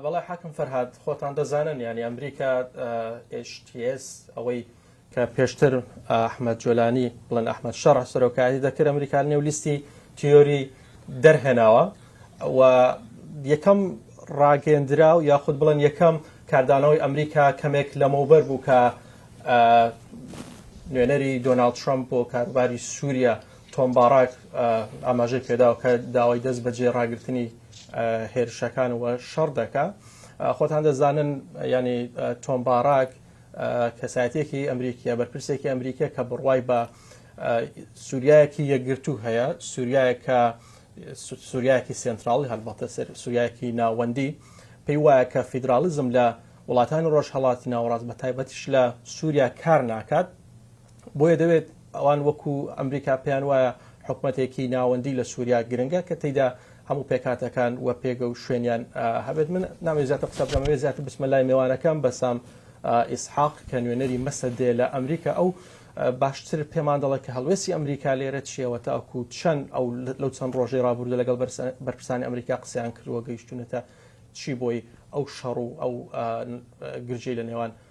بەڵێ حاکم فەرهاد خۆتان دەزانن یانی ئەمریکا HTS ئەوەی کە پێشتر ئەحمد جۆلانی بڵێن ئەحمد شەڕ سەرۆکایەتی دەکرد ئەمریکا نێو لیستی تیۆری دەرهێناوە و یەکەم ڕاگەندرا و یاخود بڵێن یەکەم کاردانەوەی ئەمریکا کەمێک لەمەوبەر بوو کە نوێنەری دۆناال ترمپ بۆ کاروباری سووریا تۆم باڕاک ئاماژەی پێداوکە داوای دەست بەجێ ڕاگررتنی هێرشەکان و شەڕ دەکا خۆتان دەزانن ینی تۆم باراک کەسایەتێکی ئەمریکیە بەرپرسێکی ئەمریکە کە بڕوای بە سووریایەکی یەکگرتو هەیە سووریایەکە سووریایەکی سنتراڵی هەلبەتە سەر سووریایەکی ناوەندی پێی وایە کە فیدراالیزم لە وڵاتانی ڕۆژهڵاتی ناوەڕاست بە تایبەتیش لە سووریا کار ناکات بۆیە دەوێت ئەوان وەکو ئەمریکا پێیان وایە حکومەتێکی ناوەندی لە سووریا گرنگە کە تێیدا هەموو پێکاتەکان و پێگە و شوێنیان هەبێت من ناوێ زیاتر قسە بکەم وێ زیاتر بچمە لای مێوانەکەم بەسام ئیسحاق کە نوێنەری مەسە دێ لە ئەمریکا ئەو باشتر پێمان دەڵێت کە هەڵوێسی ئەمریکا لێرە چیەوە تاکو چەند ئەو لەو چەند ڕۆژەی ڕابوردە لەگەڵ بەرپرسانی ئەمریکا قسەیان کردووە گەیشتونەتە چی بۆی ئەو شەڕ و ئەو گرژەی لە نێوان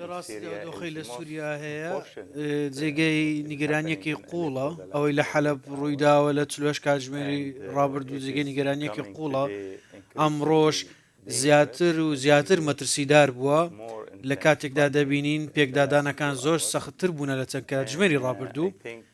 لە ڕاستیدا ئەو دۆخەی لە سووریا هەیە جێگەی نیگەرانییەکی قووڵە، ئەوەی لە حەلەب ڕوویداوە لە چل و هەشت کاتژمێری ڕابردوو جێگەی نیگەرانییەکی قووڵە، ئەمڕۆش زیاتر و زیاتر مەترسیدار بووە، لە کاتێکدا دەبینین پێکدادانەکان زۆر سەختتر بوونە لە چەند کاتژمێری ڕابردوو،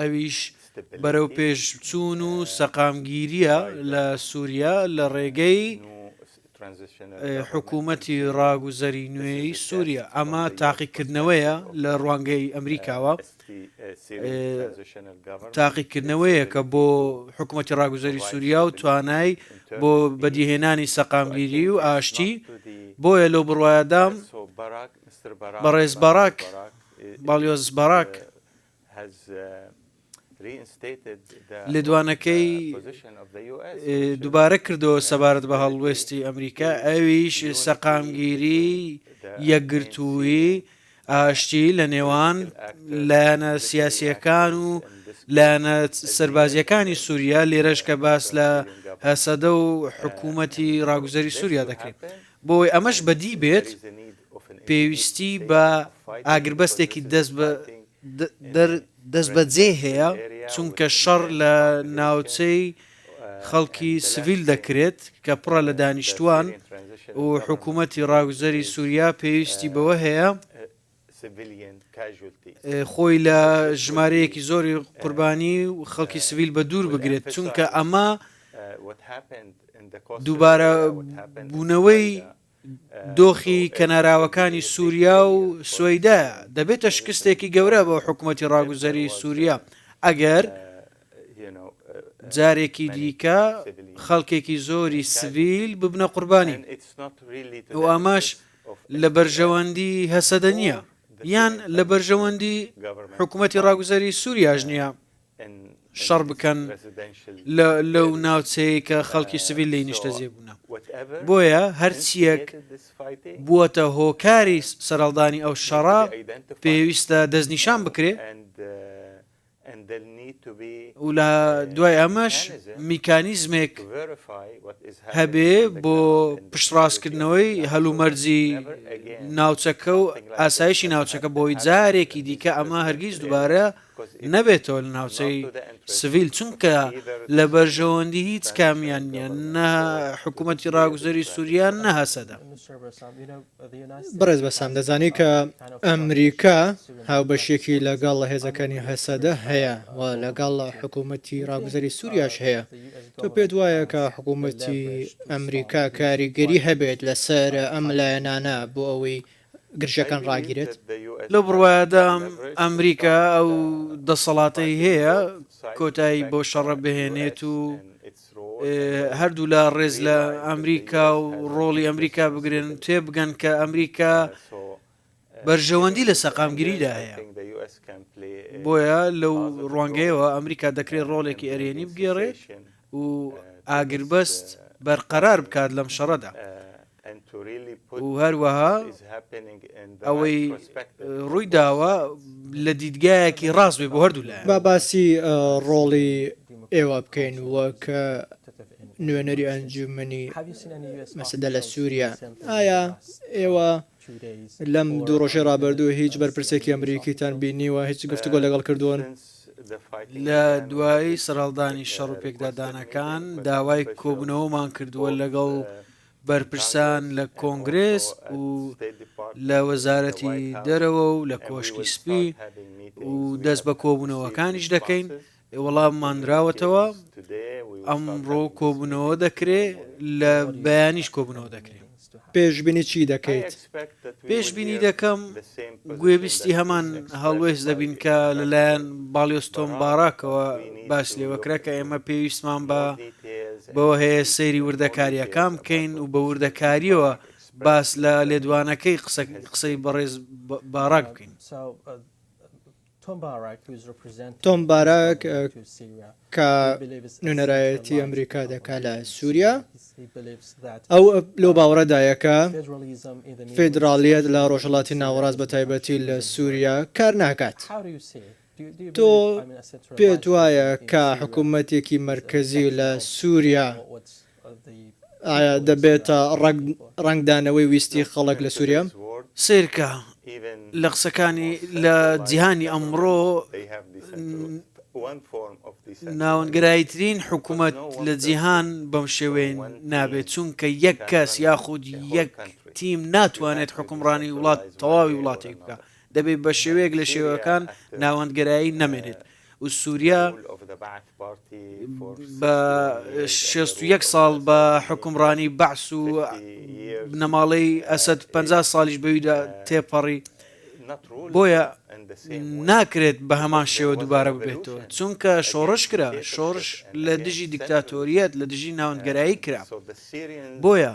ئەویش بەرەوپێشچوون و سەقامگیرییە لە سووریا لە ڕێگەی حکوومەتی ڕاگوزەری نوێی سووریا. ئەمە تاقیکردنەوەیە لە ڕوانگەی ئەمریکاوە، تاقیکردنەوەیەکە بۆ حکوومەتی ڕاگوزەری سووریا و توانای بۆ بەدیهێنانی سەقامگیری و ئاشتی، بۆیە لەو بڕوایەدام بەڕێز باراک، باڵیۆز باراک، لێدوانەکەی دووبارە کردەوە سەبارەت بە هەڵوێستی ئەمریکا، ئەویش سەقامگیری یەکگرتووی ئاشتی لە نێوان لایەنە سیاسیەکان و لایەنە سەربازیەکانی سووریا لێرەش کە باس لە هەسەدە و حکوومەتی ڕاگوزەری سووریا دەکرێت بۆ ئەوەی ئەمەش بەدی بێت، پێویستی بە ئاگربەستێکی دەستبەجێ هەیە، چونکە شەڕ لە ناوچەی خەڵکی سڤیل دەکرێت کە پڕە لە دانیشتووان و حکوومەتی ڕاگوزەری سووریا پێویستی بەوە هەیە، خۆی لە ژمارەیەکی زۆری قوربانی و خەڵکی سڤیل بە دوور بگرێت چونکە ئەمە دووبارە بوونەوەی دۆخی کەناراوەکانی سووریا و سوەیدا دەبێتە شکستێکی گەورە بۆ حکوومەتتی ڕاگوزەری سووریا ئەگەر جارێکی دیکە خەڵکێکی زۆری سڤیل ببنە قوربانی ئەو ئاماش لە بەرژەوەندی هەسەدە نییە، یان لە بەرژەوەندی حکومەتی ڕاگوزەری سوریاش نییە شەڕ بکەن لەو ناوچەیە کە خەڵکی سڤیل لێی نیشتەجێ بوونە. بۆیە هەرچییەک بووەتە هۆکاری سەرهەڵدانی ئەو شەڕە پێویستە دەستنیشان بکرێ، و لە دوای ئەمەش میکانیزمێک هەبێ بۆ پشتڕاستکردنەوەی هەلومەرجی ناوچەکە و ئاسایشی ناوچەکە بۆی جارێکی دیکە ئەمە هەرگیز دوبارە نەبێتەوە لە ناوچەی سڤیل چونکە لە بەرژەوەندی هیچ کامیان نیە نە حکوومەتی ڕاگوزەری سووریان نە هەسەدە بەڕێز بەسام دەزانی کە ئەمریکا هاوبەشیەکی لەگەڵ هێزەکانی هەسەدە هەیە و لەگەڵ حکوومەتی ڕاگوزەری سووریاش هەیە تۆ پێت وایە کە حکوومەتی ئەمریکا کاریگەری هەبێت لەسەر ئەم لایەنانە بۆ ئەوەی گرژەکان ڕاگیرێت؟ لەو بڕوایەدا ئەمریکا ئەو دەسەڵاتەی هەیە کۆتایی بۆ شەڕە بهێنێت و هەردوولا ڕێز لە ئەمریکا و ڕۆڵی ئەمریکا بگرن تێبگەن کە ئەمریکا بەرژەوەندی لە سەقامگیریدا هەیە بۆیە لەو ڕوانگەیەوە ئەمریکا دەکرێت ڕۆڵێکی ئەرێنی بگێڕێت و ئاگربەست بەرقەرار بکات لەم شەڕەدا و هەروەها ئەوەی ڕووی داوە لە دیدگایەکی ڕاست بێ بۆ هەردوو لایەن. با باسی ڕۆڵی ئێوە بکەین وەک نوێنەری ئەنجوومەنی مەسەدە لە سووریا. ئایا ئێوە لەم دوو ڕۆژەی ڕابردوو هیچ بەرپرسێکی ئەمریکیتان بینیوە، هیچ گفتوگۆ لەگەڵ کردوون؟ لە دوای سەرهەڵدانی شەڕ و پێکدادانەکان داوای کۆبوونەوەمان کردووە لەگەڵ بەرپرسان لە کۆنگرێس و لە وەزارەتی دەرەوە و لە کۆشکی سپی و دەست بە کۆبوونەوەکانیش دەکەین وەڵاممان راوەتەوە ئەمڕۆ کۆبوونەوە دەکرێ لە بەیانیش کۆبوونەوە دەکرێت پێشبینی چی دەکەیت؟ پێشبینی دەکەم گوێبیستی هەمان هەڵوێست دەبین کە لەلایەن باڵیۆز تۆم باراکەوە باس لێوەکرا کە ئێمە پێویستمان بە بەوە هەیە سەیری وردەکاریەکان بکەین و بە وردەکاریەوە باس لە لێدوانەکەی قسەی بەڕێز باراک بکەین. تۆم باراک، کە نوێنەرایەتی ئەمریکا دەکات لە سووریا، ئەو لەو باوەڕەدایە کە فیدراڵییەت لە ڕۆژهەڵاتی ناوەڕاست بەتایبەتی لە سووریا کار ناکات. تۆ پێت وایە کە حکومەتێکی مەرکەزی لە سووریا ئایا دەبێتە ڕەنگدانەوەی ویستی خەڵک لە سوریا؟ سەیرکە لە قسەکانی، لە جیهانی ئەمڕۆ ناوەندگەراییترین حکومەت لە جیهان بەم شێوەیە نابێت، چونکە یەک کەس یاخود یەک تیم ناتوانێت حوکمڕانی وڵات تەواوی وڵاتێک بکات، دەبێت بە شێوەیەک لە شێوەکان ناوەندگەرایی نەمێنێت، و سوریا بە شێست و یەک ساڵ بە حکومڕانی بەعس و بنەماڵەی ئەسد پ ساڵیش بەویدا تێپەڕی بۆیە ناکرێت بە هەمان شێوە دووبارە ببێتەوە چونکە شۆڕش کرا شۆڕش لە دژی دیکتاتۆریەت لە دژی ناوەندگەرایی کرا بۆیە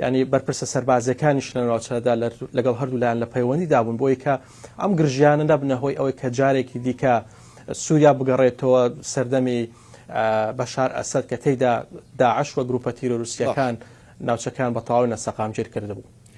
یانی بەرپرسە سەربازیەکانیش لە ناوچەدا لەگەڵ هەردوو لایەن لە پەیوەندیدا بوون بۆی کە ئەم گرژیانە نەبنە هۆی ئەوەی کە جارێکی دیکە سووریا بگەڕێتەوە سەردەمی بەشار ئەسد کە تێیدا داعش و گروپە تیرۆروسیەکان ناوچەکان بە تەواوی نەسەقامگیر کردبوو.